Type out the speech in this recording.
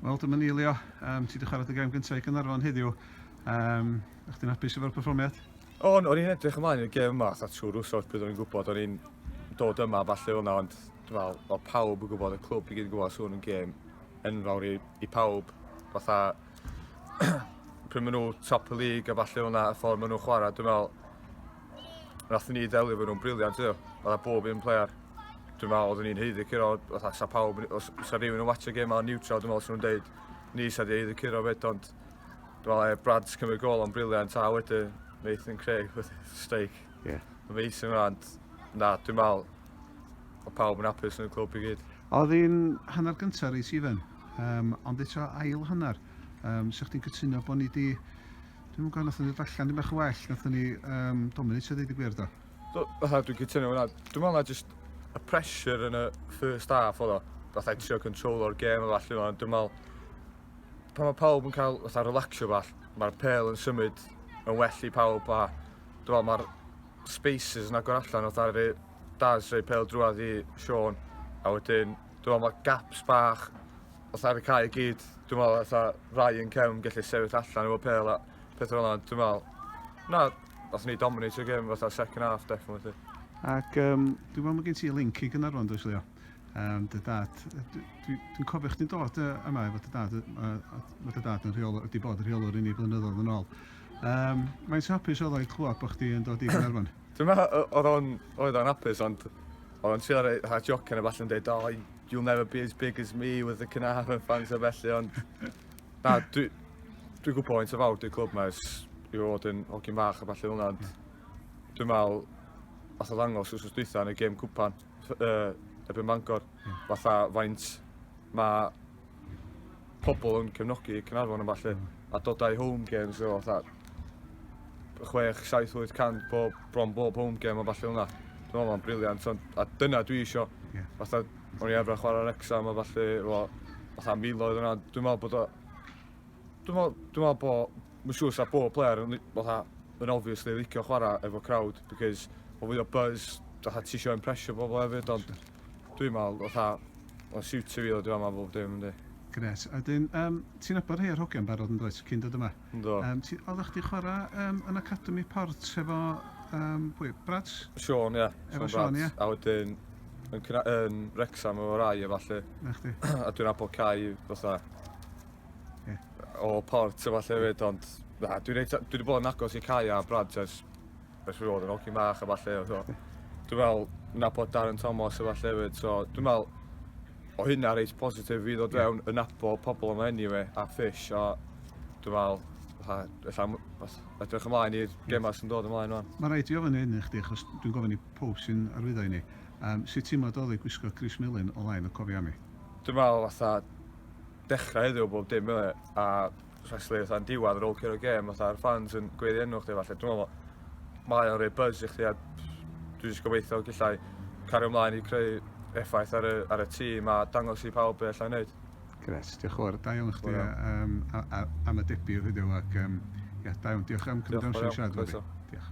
Wel, dyma ni, Leo. Um, ti wedi chwarae dy gem gyntaf i Gynarfon heddiw. Um, Ych ti'n hapus efo'r perfformiad? O, o'n i'n edrych ymlaen i'r gem yma, a trwy rwsod pryd o'n i'n gwybod, o'n i'n dod yma falle hwnna, ond fel, o pawb yn gwybod, y clwb i gyd yn gwybod, swn so yn gem enfawr i, i pawb. Fatha, pryd maen nhw top y lig a falle hwnna, y ffordd maen nhw'n chwarae, dwi'n meddwl, Nathon ni ddelio efo nhw'n briliant iddo. Oedd bob un player. Dwi'n meddwl, oeddwn ni'n heiddi curo, oedd sa pawb, os sa rhywun yn watch y gêm a'n neutral, dwi'n meddwl sy'n nhw'n deud, ni sa di heiddi curo fyd, ond dwi'n meddwl, e, Brad's cymryd gol o'n briliant, a wedyn Nathan Craig, streik. Yeah. Amazing rhan. Na, dwi'n meddwl, o pawb yn apus yn y clwb i gyd. Oedd hi'n hanner gyntaf reis ifan, um, ond eto ail hanner. Um, Sa'ch ti'n cytuno bod ni wedi Dwi'n yn gwybod, nathon ni allan ddim eich well, nathon ni um, dominate ydy, di gwir do? Do, fatha dwi'n cytuno hwnna. Dwi'n meddwl na just y pressure yn y first half oedd o. Fatha i trio control o'r gêm o falle, ond dwi'n meddwl pan mae pawb yn cael fatha relaxio fath, mae'r pel yn symud yn well i pawb a dwi'n meddwl mae'r spaces yn agor allan oedd ar y Daz rei pel drwad i Sean a wedyn dwi'n meddwl mae gaps bach Fatha ar y cae i gyd, dwi'n meddwl fatha rai yn cefn gallu sefyll allan efo pêl a pethau fel yna, dwi'n meddwl, na, nath ni dominate y gêm fatha second half definitely. Ac um, dwi'n meddwl mae gen ti link i gynnar rwan, dwi'n Leo? Um, dy dad, dwi'n dwi, dwi cofio chdi'n dod yma efo dy dad, mae dy dad yn rheol, wedi bod yn rheolwr i ni blynyddoedd yn ôl. Um, mae'n hapus oedd o'i clywed bod chdi yn dod i Gaernarfon? Dwi'n meddwl oedd o'n hapus, ond oedd o'n trio rhaid jocen a falle yn dweud, o, You'll never be as big as me with the Caernarfon fans a felly ond na dwi dwi'n gwybod faint o fawr dwi'n clwb mae ers i fod yn hogyn fach a falle hwnna ond dwi'n meddwl fath o ddangos wrth dwytha yn y gêm cwpan uh, erbyn Bangor hmm. fatha faint mae pobl yn cefnogi Caernarfon a falle, mm. a dod â'i home games o fatha 6, 7, 800 bob, bron bob home game a falle hwnna. Dwi'n meddwl mae'n briliant, a dyna dwi eisiau. Yeah. Fatha, o'n i efra chwarae Rexham a falle, o, fatha miloedd yna, dwi'n meddwl bod o... Dwi'n meddwl, dwi'n meddwl bod, mae'n siŵr sa bob player yn, fatha, yn obviously licio chwarae efo crowd, because o fwy o buzz, fatha ti eisiau impression pobl hefyd, ond... Sure Dwi'n meddwl, fatha, mae'n siwtio fi ddod i fama bob dim, yndi. Gret. A wedyn, um, ti'n abod rhai o'r hogiau'n barod yn dweud, cyn dod yma? Do. Um, ti, oeddech chdi chwarae um, yn Academy Port efo, um, pwy, Brads? Sean, ie. Yeah. Efo Sean, ie. Yeah. A wedyn, yn, yn Rexham efo rai efo allu. Na chdi. a dwi'n abod cael, fatha, yeah. o Port efo allu hefyd, ond na, dwi'n dwi wedi bod yn agos i cael a Brads ers Os fi fod yn hogyn bach a falle so dwi'n meddwl nabod Darren Thomas a falle hefyd so dwi'n meddwl o hynna reit positif i ddod fewn yn nabod pobl yma anyway a fish a dwi'n meddwl fatha edrych ymlaen i'r gemau sy'n dod ymlaen o'n. Mae rhaid i ofyn hyn i chdi achos dwi'n gofyn i pob sy'n arwyddo i ni. Um, sut ti'n madolig gwisgo Chris Millen o lain y cofiannu? Dwi'n meddwl fatha dechrau heddiw bob dim a especially fatha'n diwadd ar ôl curo gêm fatha'r fans yn gweiddi enw chdi falle dwi'n meddwl mae o'n rhoi buzz i chdi a dwi jyst gobeithio gallai cario ymlaen i creu effaith ar y, ar y tîm a dangos i pawb be allai wneud. Gret, diolch yn fawr. Da iawn chdi um, am y debyg heddiw ac um, ia, da iawn. Diolch am cymryd amser i siarad efo fi. Diolch.